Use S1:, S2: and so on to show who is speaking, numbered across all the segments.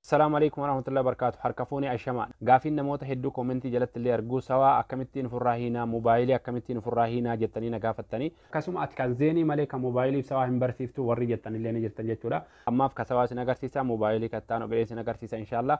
S1: Salaam Aleeykum Warahmatullahi Wabarkaatu Harka Fuune Ashamaa Gaafiin Namoota Hedduu Koomentii Jalatti Illee Arguu Sawaa Akkamittiin Ufirraa Hiinaa Mobaayilii Akkamittiin Ufirraa Hiinaa Jettanii Na Gaafattanii Akkasuma Ati Kan Zeenii Malee Kan Mobaayiliif Sawaa Hin Barsiiftuu Warrii Jettan Illee Ni Jirtan Jechuudha Ammaaf Ka Sawaa Isin Agarsiisa Mobaayilii Ka Itti Aanu Itti Aanu Isin Agarsiisa Inshaallaa.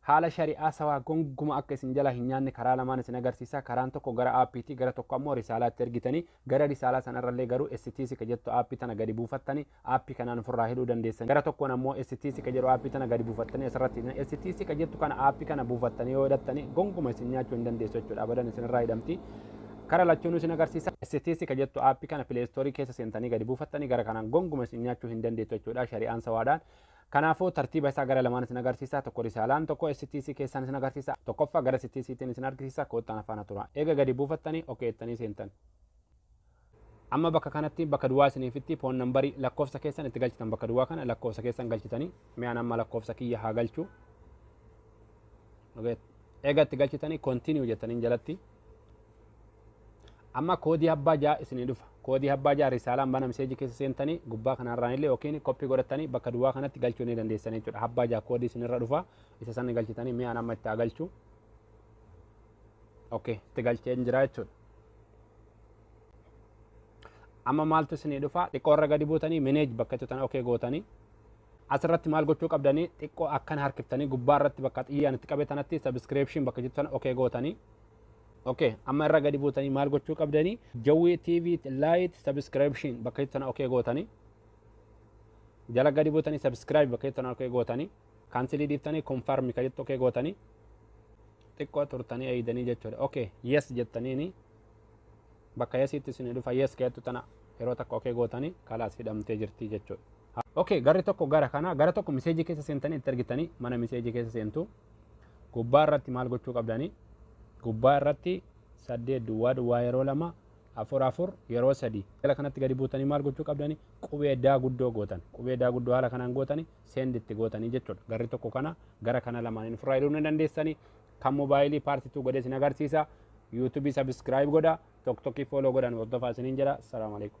S1: Haala shari'aa sawaa gonguma akka isin jalaa hin nyaanne karaa lamaan isin agarsiisa. Karaan tokko gara app ti, gara tokko ammoo risaalaa itti ergitanii, gara risaalaa sana irra illee garuu STC ka jettu app tana gadi buufattanii app kanaan of irraa hidhuu dandeessan. Gara tokkoon ammoo STC ka jedhu app tana gadi buufattanii as irratti hidhina. STC ka jettu kana app kana buufattanii yoo hidhattanii gonguma isin nyaachuu hin dandeessu jechuudha. Abadan isin irraa hidhamti. Kara lachuunuu isin agarsiisa. STC ka jettu app kana play store keessa seentanii gadi buufattanii gara kanaan gonguma isin nyaachuu hin dandeettu jechuudha. Shari'aan sawaadhaan Kanaafuu tartiiba isaa gara lamaan isin agarsiisa. Tokko risaalaan, tokko STC keessaan isin agarsiisa. Tokkoffaa gara STC tiin isin argisiisa. Koottaa na faana turaa. Eega gadi buufattanii OK jettanii seentan. Amma bakka kanatti bakka duwwaa isiniif itti foon nambarii lakkoofsa keessan itti galchitan bakka duwwaa kana lakkoofsa keessan galchitanii mi'aan amma lakkoofsa kiyya haa galchu. Eega itti galchitanii continue jettaniin jalatti Amma koodii abbaa ja'a isinii dhufa. Koodii abbaa ja'a risaalaan bana miseejii keessa seentanii gubbaa kanarraan illee yookiin koppii godhattanii bakka duwwaa kanatti galchuu ni dandeessan jechuudha. Abbaa ja'a koodii isinirra dhufa. Isa sana galchitanii mi'aan amma itti haa galchu. Okay, itti galcheen jira jechuudha. Amma maaltu isinii dhufa? Xiqqoo irra gadi buutanii mineej bakka tutan okay gootanii asirratti maal gochuu qabdanii xiqqoo akkan harkiftanii gubbaa irratti bakka xiyyaan itti qabe tanatti sabiskiriipshin bakka jettan okay gootanii ok amma irra gadi buutanii maal gochuu qabdanii jawwii tv light subscription bakka itti tana ok gootanii jala gadi buutanii subscribe bakka itti tana ok gootanii kaansilii dhiiftanii confirm ka jettu ok gootanii xiqqoo turtanii eeydanii jechuudha ok yes jettaniini bakka yesiitti isin dhufa yes ka jettu tana yeroo takka ok gootanii kalaas hidhamtee jirtii jechuudha ok garri tokko gara kana gara tokko miseejii keessa seentanii itti argitanii mana miseejii keessa seentuu Gubbaa irratti maal gochuu qabdani? Gubbaa irratti saddeet duwwaa duwwaa yeroo lama afur afur yeroo sadii gara kanatti gadi buutanii maal gochuu qabdani? Qubee daa guddoo gootan. Qubee daa guddoo haala kanaan gootani send itti gootanii jechuudha. Garri tokko kana gara kana lamaaniin ofirraa iluu ni dandeessani. Kan moobaayilii paartii tuu godhee isin agarsiisa. Yuutuubii sabiskiraayib godha. Tokkokkii fooloo godhan hordofaa isiniin jedha. Salaamu alaikum.